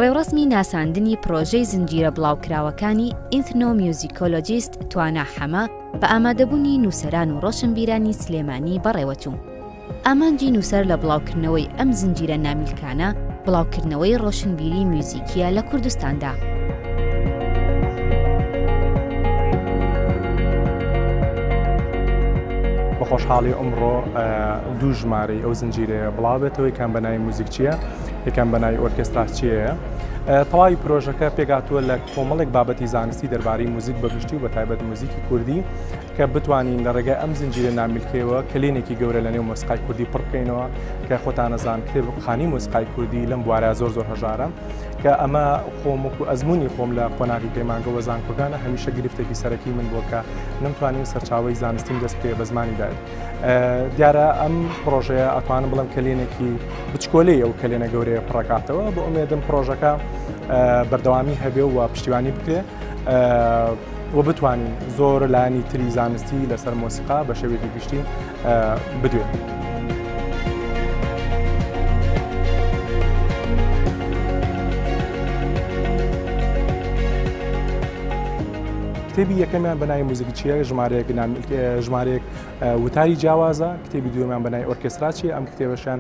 ڕێوڕەسمی ناساندنی پرۆژەی زنجیرە بڵاوکراوەکانی ئینتنۆمیوزیکۆلۆجیست توانا حەمە بە ئامادەبوونی نووسەران و ڕۆشنبیرانی سلێمانی بەڕێوەچوو. ئامانجی نووسەر لە بڵاوکردنەوەی ئەم زنجیرە نامیلکانە، بڵاوکردنەوەی ڕۆشنبیری میوزیکییە لە کوردستاندا. بە خۆشحاڵی ئەمڕۆ دوو ژمارەی ئەو زنجیرەیە بڵاوبێتەوە یەکان بە ناوی موزیکچیە یەکان بە ناوی ئۆرکستراچیەیە تەواوی پرۆژەکە پێگاتووە لە کۆمەڵێک بابەتی زانستی دەربارەی موزیک بەگشتی و بە تایبەت موزیکی کوردی کە بتوانین لە ڕێگای ئەم زنجیرە نامیلکەیەوە کەلێنێکی گەورە لە نێو مۆسیقای کوردی پڕ بکەینەوە کە خۆتان ئەزان کتێبخانەی مۆسیقای کوردی لەم بوارە زۆر زۆر هەژارە کە ئەمە خۆم وەکو ئەزموونی خۆم لە قۆناغی پەیمانگەوە زانکۆکانە هەمیشە گرفتێکی سەرەکی من بووە کە نەمتوانی سەرچاوی زانستیم دەست پێ بە زمانی دایک دیارە ئەم پرۆژەیە ئەتوانم بڵم کەلێنێکی بچکۆلەیە و کەلێنە گەورەیە پڕکاتەوە بۆ ئومێدم پرۆژەکە بەردەوامی هەبێ و پشتیوانی بکرێ و بتوانین زۆر لانی تری زانستی لەسەر مۆسیقا بە شێوێکی گشتی بدوێت. کتێبی یەکەمیان بەنای موزیکچیە ژمارەیەک ژمارەیەک وتاری جیاوازە کتێبی دوێمان بەنای ئۆرکستراچی ئەم کتێبەشان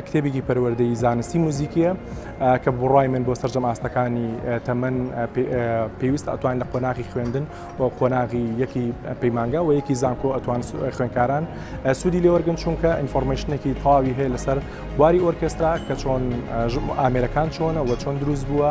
کتێبێکی پەروەردەی زانستی موزیکیە کە بڕای من بۆ سەررجەم ئاستەکانی تەمەەن پێویستە ئەتوان لە قۆناغی خوێندن و قۆناغی یەکی پەیمانگا و یەکی زانکۆ ئەتوان خوێنکاران سوودی لێوەرگن چونکە ئینفۆرمشنێکی تاوی هەیە لەسەر بواری ئۆرکسترا کە چۆن ئامێرەکان چۆنە و چۆن دروست بووە